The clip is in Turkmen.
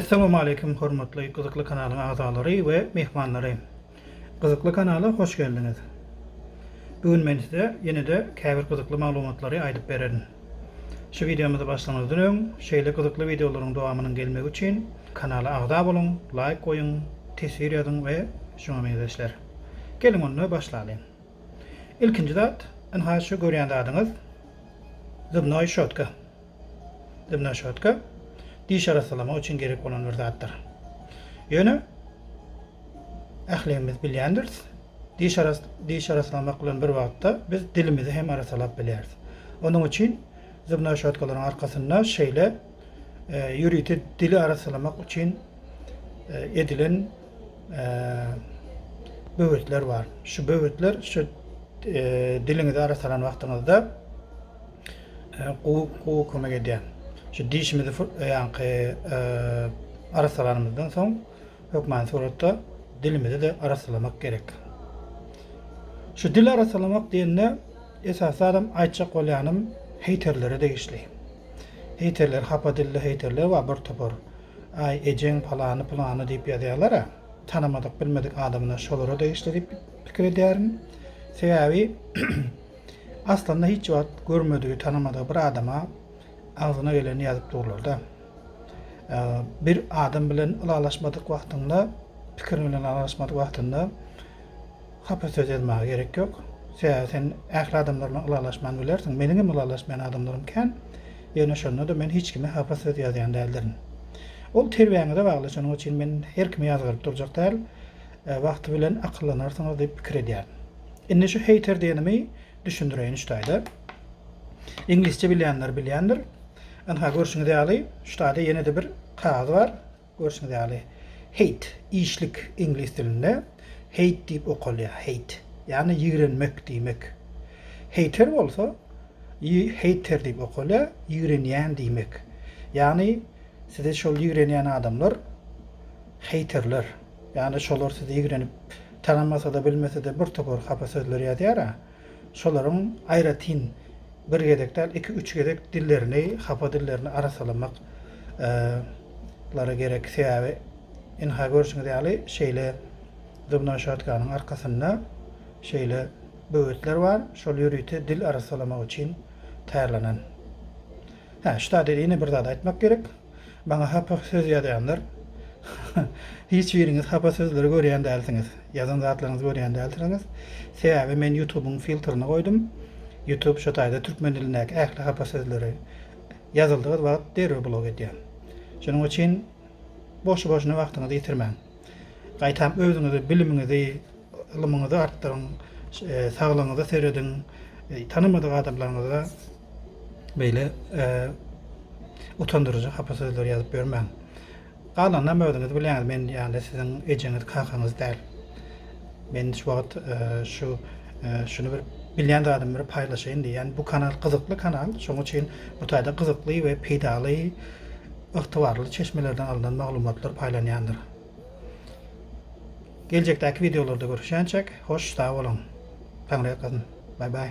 Essalamu aleýkum hormatly gyzykly kanalyň agzalary we myhmanlary. Gyzykly kanala hoş geldiňiz. Bu gün men size ýene-de käbir gyzykly maglumatlary aýdyp bererin. Şu wideomyzy başlamazdan öň, şeýle gyzykly wideolaryň dowamynyň gelmegi üçin kanala agza boluň, laýk goýuň, teswir ýazyň we şuňa meňzeşler. Geliň onda başlalyň. Ilkinji zat, ynha şu görýän zadyňyz zubnoý şotka. Zubnoý şotka diş arassalamak üçin gerek bolan bir zatdyr. Ýöne ähligimiz bilýändiris, Diş arasalamak bilen bir wagtda biz dilimizi hem arasalap bilýäris. Onuň üçin zubnoý şotkalaryň arkasynda şeýle ýörite dili arasalamak üçin edilen böwetler bar. Şu böwetler şu diliňizi arasalan wagtyňyzda gowy kömek edýär. Şu dişimizi ýaňky arasalanymyzdan soň hökmany suratda dilimizi-de arassalamak gerek. Şu dil arassalamak diýende, esasanam aýtjak bolýanym heýterlere degişli. Heýterler, hapa dilli heýterler bar bir topar. Aý, ejeň palany-pylany diýip ýazýarlar-a, tanamadyk, bilmedik adamyna şolara degişli diýip pikir edýärin. Sebäbi aslynda hiç wagt görmedigi, tanamadygy bir adama agzyna geleni ýazyp durlar-da. Bir adam bilen ylalaşmadyk wagtyňda, pikiriň bilen ylalaşmadyk wagtyňda hapa söz ýazmaga gerek ýok. Sebäbi sen ähli adamlar bilen ylalaşman bilersiň. Meniň hem ylalaşmaýan adamlarym kän. Ýöne şonda-da men hiç kime hapa söz ýazýan däldirin. Ol terbýäňize bagly, şonuň üçin men her kimi ýazgaryp durjak däl. Wagty bilen akyllanarsyňyz diýip pikir edýärin. Indi şu heýter diýenimi düşündireýin üç taýda. Iňlisçe bilýänler bilýändir. Ynha görşüňiz ýaly, şu taýda ýene-de bir kagyz bar. Görşüňiz ýaly, hate, işlik iňlis dilinde hate diýip okalýar, hate. Ýagny ýigrenmek diýmek. Hater bolsa, hater diýip okalýar, ýigrenýän diýmek. Ýagny sizi şol ýigrenýän adamlar haterler. Ýagny şolar sizi ýigrenip, tanamasa-da, bilmese-de bir topar hapa sözler ýazýar-a. Şolaryň aýratyn bir gezek däl, iki-üç gezek dillerini, hapa dillerini arassalamak lary gerek. Sebäbi ynha görşüňiz ýaly şeýle zubnoý şotkanyň arkasynda şeýle böwetler bar, şol ýörite dil arassalamak üçin taýýarlanan. Hä, şu zady ýene bir zat aýtmak gerek. Maňa hapa söz ýazýanlar hiç biriňiz hapa sözleri görýän dälsiňiz. Ýazan zatlaryňyzy görýän dälsiriňiz. Sebäbi men ýutubyň filtrini goýdum. Ýutub şo taýda türkmen dilindäki ähli hapa sözleri ýazyldygy wagt derrew blok edýär. Şonuň üçin boşy-boşuna wagtyňyzy ýitirmäň. Gaýtam özüňizi, bilimiňizi, ylymyňyzy artdyryň, saglygyňyza serediň, tanamadyk adamlaryňyza beýle utandyryjy hapa sözler ýazyp ýörmäň. Galanynam özüňiz bilýäňiz, men ýaly siziň ejeňiz, kakaňyz däl. Men şu wagt şu şuny bir bilýän zadymy bir paýlaşaýyn diýýän. Bu kanal gyzykly kanal, şonuň üçin bu taýda gyzykly we peýdaly ygtybarly çeşmelerden alnan maglumatlar paýlanýandyr. Geljekdäki wideolarda görüşýänçäk, hoş sag boluň. Taňryýalkasyn. Bye bye.